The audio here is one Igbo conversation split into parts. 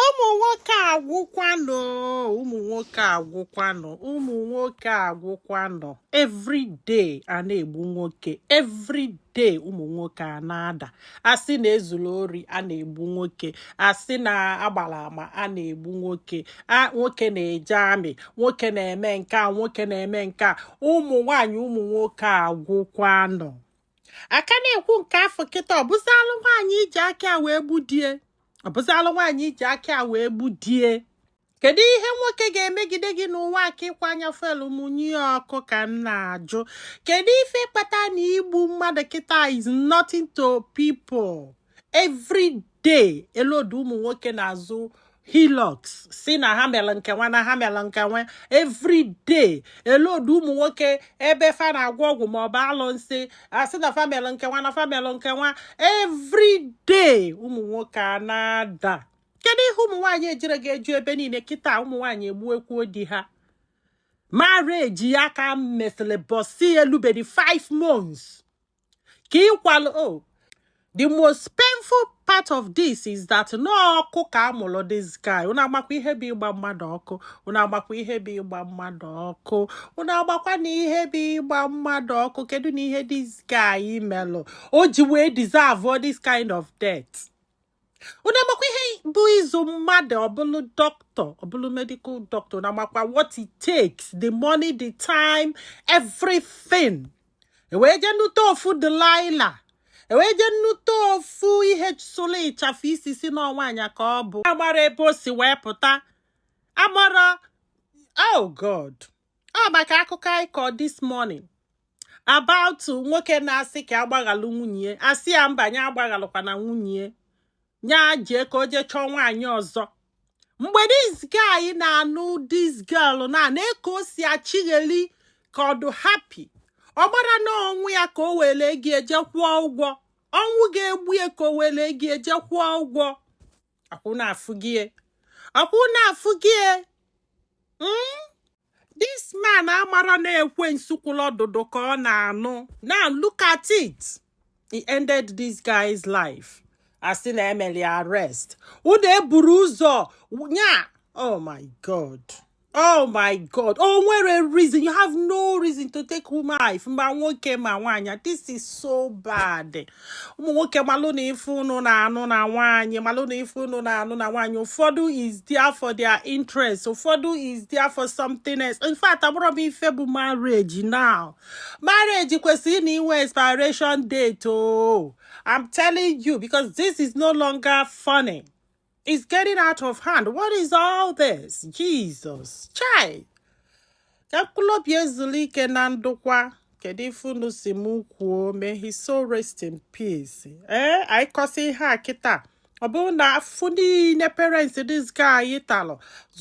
ụmụ nwoke agwụkwanụ ụmụ nwoke agwụkwanụ ụmụ nwoke agwụkwanụ everyday a na-egbu nwoke everyday ụmụ nwoke a na-ada asị na ezuru ori a na-egbu nwoke asị na agbara ama a na-egbu nwoke nwoke na-eje army nwoke na-eme nke a nwoke na-eme nke a ụmụ nwaanyị ụmụ nwoke agwụkwanụ a ka na-ekwu nke afụ kịta ọ bụzịalụ nwaanyị ji aka wee gbuo di e ọ bụzịalụ nwaanyị ji aka wee gbuo di e kedu ihe nwoke ga-emegide gị n'ụwa a ka ị kwaa nya fuel mụnye ọkụ ka m na-ajụ kedu ife kpata na igbu mmadụ kịta is nothing to people every day e load ụmụ nwoke n'azụ hilux sị na ha mere nke nwa na ha mere nke nwa every day e load ụmụ nwoke ebe fa na-agwọ ọgwụ ma ọ bụ alụsị a sị na fa mere nke nwa na fa mere nke nwa every day ụmụ nwoke a na-ada kedu ihe ụmụ nwaanyị ejire ga-eju ebe niile kịta ụmụ nwaanyị egbukwuo di ha marriage a ka mesịrị ụbọsị elubedi 5 months ka ịkwalụ o oh, the most painful part of this is that na ọkụ ka a mụlụ this guy unu amakwa ihe bụ ịgba mmadụ ọkụ unu amakwa ihe bụ ịgba mmadụ ọkụ unu amakwanụ ihe bụ ịgba mmadụ ọkụ kedunụ ihe this guy melụ o ji wee deserve all this kind of death unu amakwa ihe bụ ịzụ mmadụ ọ bụlụ doctor ọ bụlụ medical doctor unu amakwa what it takes the money the time everything e wee jee nụta ofu delilah e wee jee nụta ofu ihe solo ịchafụ isi sị na nwaanyị ka ọ bụ amarọ ebe o si wee pụta amarọ oh god ọ maka akụkọ anyị kọ this morning about nwoke na-asị ka a gbaghalụ nwunye a sị ya mba nya agbaghalụkwana nwunye nya jee ka o jee chọọ nwaanyị ọzọ mgbe this guy na-anụ this girl nee ka o si achịgheli ka ọ dụ happy ọ marọ na ọnwụ ya ka o were ego je kwụọ ụgwọ ọnwụ ga-egbu ya ka o were ego je kwụọ ụgwọ akwụ na-afụ gị e. akwụ na-afụ gị e. hmm? this man amarọ na ekwensu kwụlụ ọdụdụ ka ọ na-anụ now look at it he ended this guy's life a sị na e melụ ya arrest ụda eburu ụzọ nya oh my god oh my god o nwerọ reason you have no reason to take life ma nwoke ma nwaanyị this is so bad ụmụ nwoke malụnụ ife unu na-anụ na nwaanyị malụnụ ife unu na-anụ na nwaanyị ụfọdụ is there for their interest ụfọdụ is there for something else in fact amarọ m ife bụ marriage now marriage kwesịrị ịna-enwe expiration date o oh. i'm telling you because this is no longer funny It's getting out of hand. What is all this? Jesus. Chai. Ka mkpụrụ obi ya zuru ike na ndokwa. Kedu ife unu si m kwuo? May his soul rest in peace. Ee, eh, anyị kọsị ihe a kịta. ọ bụrụ na afụfụ niile parents this guy talụ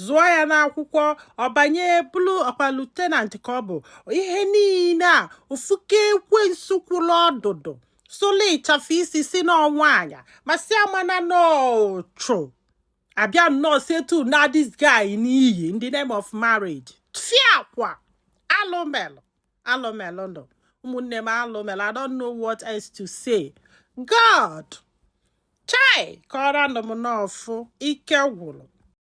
zụọ ya n'akwụkwọ ọ banye bụrụ ọkwa lieutenant ka ọ bụ ihe niile a ofuke ekwensu kwụrụ ọdụdụ sụlụ ịchafụ isi sị n'ọ nwaanya ma si amana n'ọchụ abịa nnọọ setu na this guy in the name of marriage fiakwa alụ melụ alụ melụ nụ ụmụnne m alụ melụ I don't know what else to say God chai kọrọ nụ m n'ọfụ ike gwụrụ